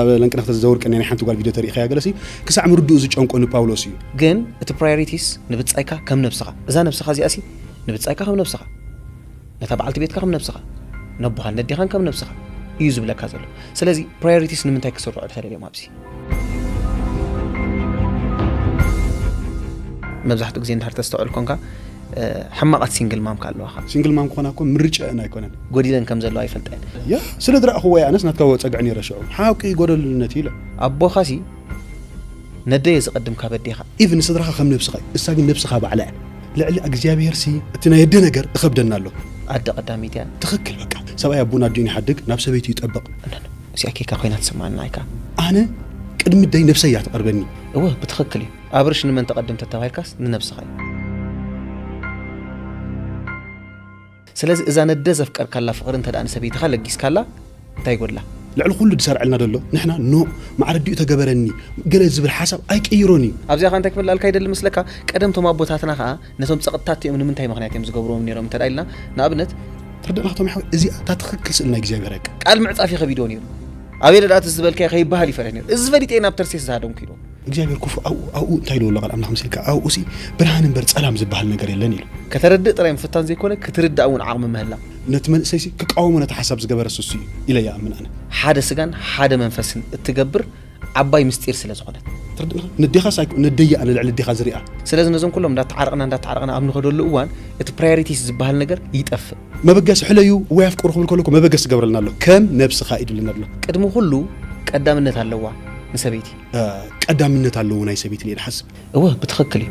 ኣብ ለንቅነክተ ዝዘውር ቅኔ ናይ ሓንቲ ጓል ቪድዮ ተሪኢካያ ገለሲ ክሳዕ ምርድኡ ዝጨንቆ ንፓውሎስ እዩ። ግን እቲ ፕራዮሪቲስ ንብጻይካ ከም ነብስኻ እዛ ነብስኻ እዚኣሲ ንብጻይካ ከም ነብስኻ ነታ በዓልቲ ቤትካ ከም ነብስኻ ነቦኻን ነዴኻን ከም ነብስኻ እዩ ዝብለካ ዘሎ ስለዚ ፕራዮሪቲስ ንምንታይ ክስርዑ ተደልዮም ኣብዚ መብዛሕትኡ ግዜ እንድሕር ተስተውዕል ኮንካ ሕማቓት ሲንግል ማም ካለዋኻ ሲንግል ማም ክኾና እኮ ምርጫ ን ኣይኮነን ጎዲለን ከም ዘለዋ ይፈልጣ እየን ያ ስለ ዝረኣኹዎ እየ ኣነስ ናትካ ወፀግዕ ነይረ ሽዑ ሓቂ ጎደልነት እዩ ኢለ ኣቦኻ ሲ ነደየ ዝቐድም ካብ ኣዴኻ ኢቭ ንስድራኻ ከም ነብስኻ እዩ እሳ ግን ነብስኻ ባዕላ እያ ልዕሊ እግዚኣብሄር ሲ እቲ ናይ ኣደ ነገር እኸብደና ኣሎ ኣደ ቀዳሚት እያ ትኽክል በቃ ሰብኣይ ኣቡን ኣዲኡን ይሓድግ ናብ ሰበይቱ ይጠብቕ እነን እዚኣ ኬካ ኮይና ትስምዓና ኣይካ ኣነ ቅድሚ ደይ ነብሰይ እያ ትቐርበኒ እወ ብትኽክል እዩ ኣብርሽ ንመን ተቀድም ተተባሂልካስ ንነብስኻ እዩ ስለዚ እዛ ነደ ዘፍቀርካላ ፍቅሪ እንተ ንሰበይትኻ ለጊስካላ እንታይ ጎድላ። ልዕሊ ኩሉ ድሰርዐልና ደሎ ንሕና ን ማዕረዲኡ ተገበረኒ ገለ ዝብል ሓሳብ ኣይቅይሮን እዩ። ኣብዚኣ ከኣ እንታይ ክመልኣልካ ይደሊ መስለካ ቀደም እቶም ኣቦታትና ከኣ ነቶም ጸቅጥታት እቲኦም ንምንታይ ምክንያት እዮም ዝገብርዎም ኔሮም እንተ ኢልና ንኣብነት ትርድእና ክቶም ሓወይ እዚኣ እታ ትክክል ስእሊ ናይ እግዚኣብሔር እያ። ቃል ምዕጻፍ ይከቢድዎ ኔሩ ኣቤለ ደኣ እቲ ዝበልካዮ ከይበሃል ይፈርህ ኔሩ እዚ ፈሊጠ እየ ናብ ተርሴስ ዝሃደምኩ ኢልዎ። እግዚኣብሔር ኩፉእ ኣብኡ ኣብኡ እንታይ ኢልዎ ኣሎ ቃል ኣምላኽ መሲልካ ኣብኡሲ ብርሃን እምበር ጸላም ዝበሃል ነገር የለን ኢሉ። ከተረድእ ጥራይ ምፍታን ዘይኮነ ክትርዳእ እውን ዓቕሚ ምህላው። ነቲ መንእሰይሲ ክቃወሞ ነቲ ሓሳብ ዝገበረስ እሱ እዩ ኢለ ይኣምን ኣነ። ሓደ ስጋን ሓደ መንፈስን እትገብር ዓባይ ምስጢር ስለ ዝኾነት። ትርድእኻ ነዴኻስ ኣይኮ ነደይ'ያ ንልዕሊ ኣዴኻ ዝሪኣ። ስለዚ ነዞም ኩሎም እንዳተዓረቕና እንዳተዓረቕና ኣብ ንኸደሉ እዋን እቲ ፕራዮሪቲስ ዝበሃል ነገር ይጠፍእ። መበገሲ ሕለዩ ወይ ኣፍቅሩ ክብል ከሎ እኮ መበገሲ ይገብረልና ኣሎ ከም ነብስኻ እዩ ድብለና ድሎ። ቅድሚ ኩሉ ቀዳምነት ኣለዋ ንሰበይቲ። ቀዳምነት ኣለዎ ናይ ሰበይቲ ኢለ ሓስብ። እወ ብትኽክል እዩ።